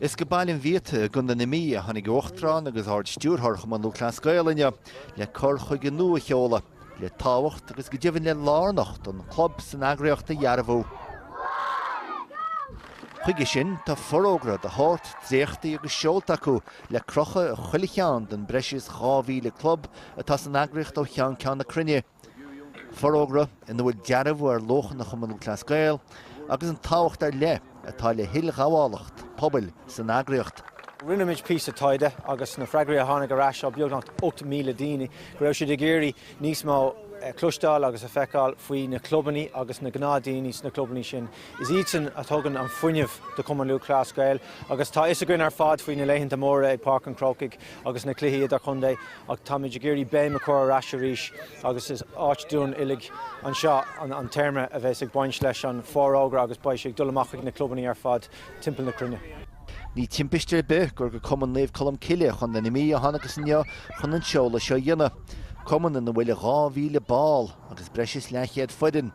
Is go Baile an Bhiata i gContae na Mí a tháinig Uachtarán agus Ard-Stiúrthóir Chumann Lúthchleas Gael inniu le cur chuige nua a sheoladh le tábhacht agus go deimhin le lárnacht an chlub san eagraíocht a dhearbhú. Chuige sin, tá forógra de shórt dréachtaí agus seolta acu le crochadh i chuile cheann den breis is 2,000 club atá san eagraíocht ó cheann ceann na cruinne. Forógra ina bhfuil dearbhú ar luachanna Chumann Lúthchleas Gael agus an tábhacht ar leith atá le hilghabhálacht pobail san eagraíocht. Rinneamid píosa taighde agus na freagraí a tháinig ar ais ó beagnach 8,000 daoine go raibh siad ag iarraidh níos mó a chloisteáil agus a feiceáil faoi na clubannaí agus na gnáthdhaoine sna clubannaí sin. Is iadsan a thugann an fuinneamh do Chumann Lúthchleas Gael agus tá fhios againn ar fad faoi na laethanta móra ag Páirc an Chrócaigh. agus na cluichí idirchontae ach táimid ag iarraidh béim a chur ar ais arís agus is áit dúinn uilig anseo an téarma a bheas ag baint leis an bhfórógra agus beidh sé ag dul amach chuig na clubannaí ar fad timpeall na cruinne. Ní timpiste ar bith gur go Cumann Naomh Colm Cille, Contae na Mí a thánagas inniu chun an seoladh seo a dhéanamh, cumann ina bhfuil 2,000 ball agus breis is leathchéad foireann.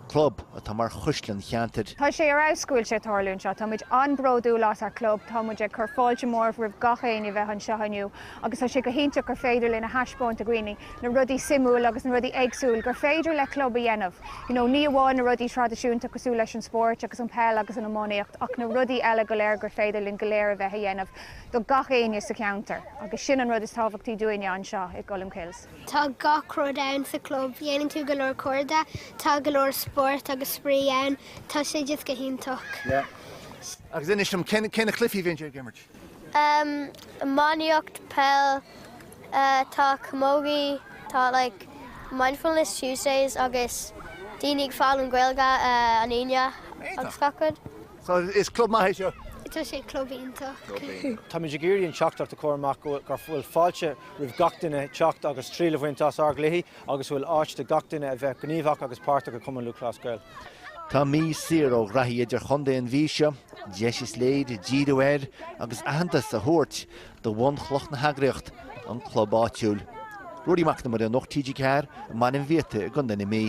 club atá mar chuisle an cheantair. Tá sé ar fheabhas go bhfuil sé ag tarlú anseo. Táimid an-bhródúil as ár gclub. Táimid ag cur fáilte mhór roimh gach éinne a bheith anseo inniu agus tá sé go hiontach gur féidir linn a thaispeáint do dhaoine na rudaí suimiúil agus na rudaí éagsúil gur féidir le club a dhéanamh. You know, ní amháin na rudaí traidisiúnta cosúil leis an spóirt agus an peil agus an iománaíocht ach na rudaí eile go léir gur féidir linn go léir a bheith a dhéanamh do gach éinne sa cheantar agus sin an rud is tábhachtaí dúinne anseo i gColmcille's. Tá gach rud ann sa chlub. Déanann tú go leor cairde, tá go leor spórt agus spraoi ann. Tá sé just go hiontach. Agus inis dom, cé na cluichí a bhíonn sibh ag imirt? Iománaíocht, peil, tá camógaí, tá like Mindfulness Tuesdays agus daoine ag foghlaim Gaeilge an Aoine agus gach rud. So is club maith é seo. Tá sé club iontach. Táimid ag iarraidh an teachtaireacht a chur amach go bhfuil fáilte roimh gach duine teacht agus triail a bhaint as ár gcluichí agus go bhfuil áit do gach duine a bheith gníomhach agus páirteach i Cumann Lúthchleas Gael. Tá mí saor ó chraobhacha idirchontae an mhí seo, deis is léir díriú air agus aitheantas a thabhairt do bhunchloch na heagraíocht, an club áitiúil. Ruairí Mac Con Iomaire, Nuacht TG4, i mBaile an Bhiata i gContae na Mí.